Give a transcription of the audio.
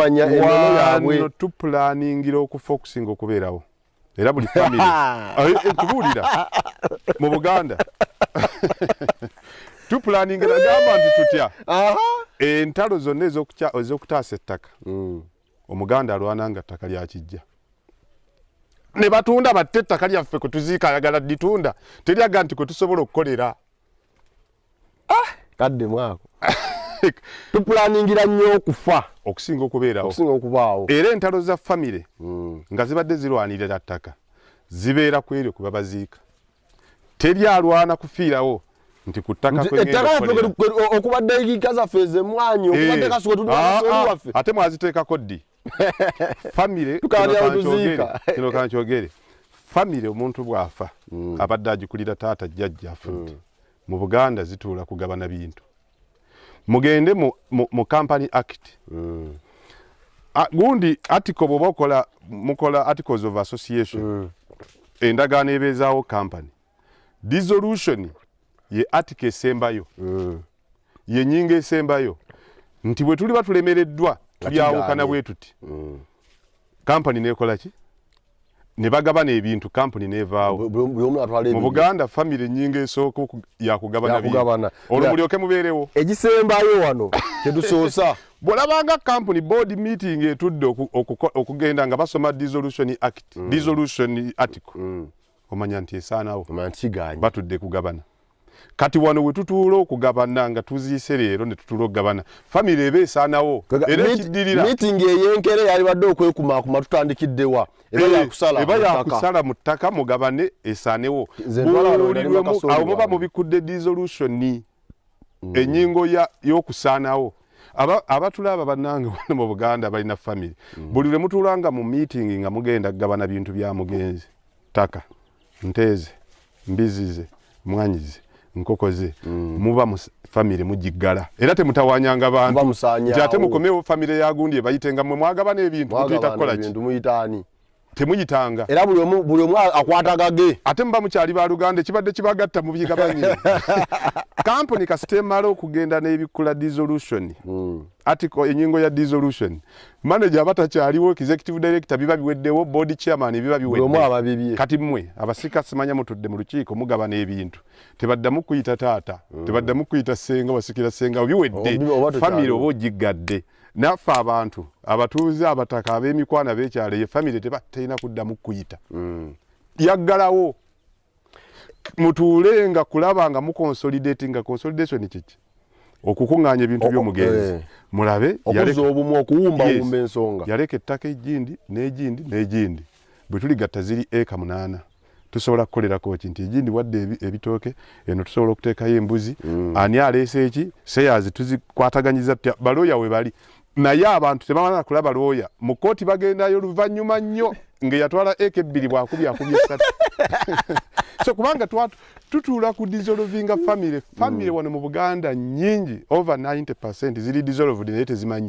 okukumpanya enono yaabwe wano tupulaningira okufa okusinga okubeerawo era buli famire eh, eh, tubuulira mu buganda tupulaningira gamba nti tutya entalo zonna ez'okutaasa ettaka mm. omuganda alwana nga ttaka lyakijja ne batunda batte ettaka lyaffe kwe tuziika ayagala litunda teryaga nti kwe tusobola okukolera ah! kadde mwako tupulaningira nnyo okufa okusinga okubeerawokusinga okubaawo era entalo za famire hmm. nga zibadde zirwanirira ttaka zibeera ku eryo kuba baziika teri alwana kufiirawo nti ku ttaka okubadde egiika zaffe ezemwanyi eh. okubadde kasuka tudwaffe ah, ah. ate mwaziteekako ddi famire kino kankyogere famire omuntu bw'afa hmm. abadde agikulira taata jjajja afudde hmm. mu buganda zituula kugabana bintu mugende mu, mu, mu company act mm. A, gundi article bwoba okola mukola articles of association mm. endagaano ebeezaawo company dissolution ye article esembayo mm. ye nyinga esembayo nti bwe tuliba tulemereddwa tulyawukana bwe tuti mm. company neekola ki ne bagabana ebintu kampuni n'evaawo mu buganda famiry enyinga esooka yakugabana bigabana olwo mulyoke mubeerewo egisembayo wano kyedusoosa bwolabanga kampuni board meeting etudde okugenda nga basoma dissolution act mm. dissolution article mm. omanya nti esaanawo batudde kugabana kati wano wetutuula okugabana nga tuziise leero netutuula okugabana famiry eba esaanawo era ekiddirira mitingi eyenkere yalibadde okwekumaakuma tutandikiddewa eba eh, yakusala mu ttaka mugabane esaanewo buulirwemu awo muba mubikudde disolution Mm. enyingo y'okusaanawo abatulaaba bannange wano mu buganda balina famiry mm. buli lwe mutulanga mu meeting nga mugenda kugabana bintu bya mugenzi ttaka nteeze mbizzi ze mwanyi ze nkoko ze mm. muba mu famire mugiggala era temutawanyanga bantu nti ate mukomewo famire yagundi ebayitenga mwe mwagabana ebintu mutuyita kukola ki temuyitanga era buli omu buli omu akwatagage ate muba mukyali ba luganda ekibadde kibagatta mu bigabanye kampuni kasita emala okugenda n'ebikula dissolution mm. article enyingo ya dissolution manager aba takyaliwo executive director biba biweddewo board chairman biba biwedde kati mmwe abasika simanya mutudde mu lukiiko mugabana ebintu tebaddamu kuyita taata mm. tebaddamu kuyita senga wasikira senga biwedde famire oba ogiggadde naffe abantu abatuuze abataka ab'emikwano ab'ekyalo eyo famire tebalina kuddamu kuyita mm. yaggalawo mutuule nga kulaba nga muconsolidati nga consolidation kiki okukuŋŋaanya ebintu by'omugenzi eh. mulabe okuza obumu okuwumbawumba ensonga yaleka ettaka egindi n'egindi n'egindi bwe tuligatta ziri eka munaana tusobola kukolerako ki nti egindi wadde ebitooke eno tusobola okuteekayo embuzi mm. ani aleese eki seyazi tuzikwataganyiza tutya balooya we bali naye abantu tebamala kulaba lwoya mu kkooti bagendayo luvannyuma nnyo ng'eyatwala eka ebbiri bwakubye akubye esatu so kubanga tutuula ku dissolvinga family family mm. wano mu buganda nyingi over 90 percent ziri dissolved naye tezimanyi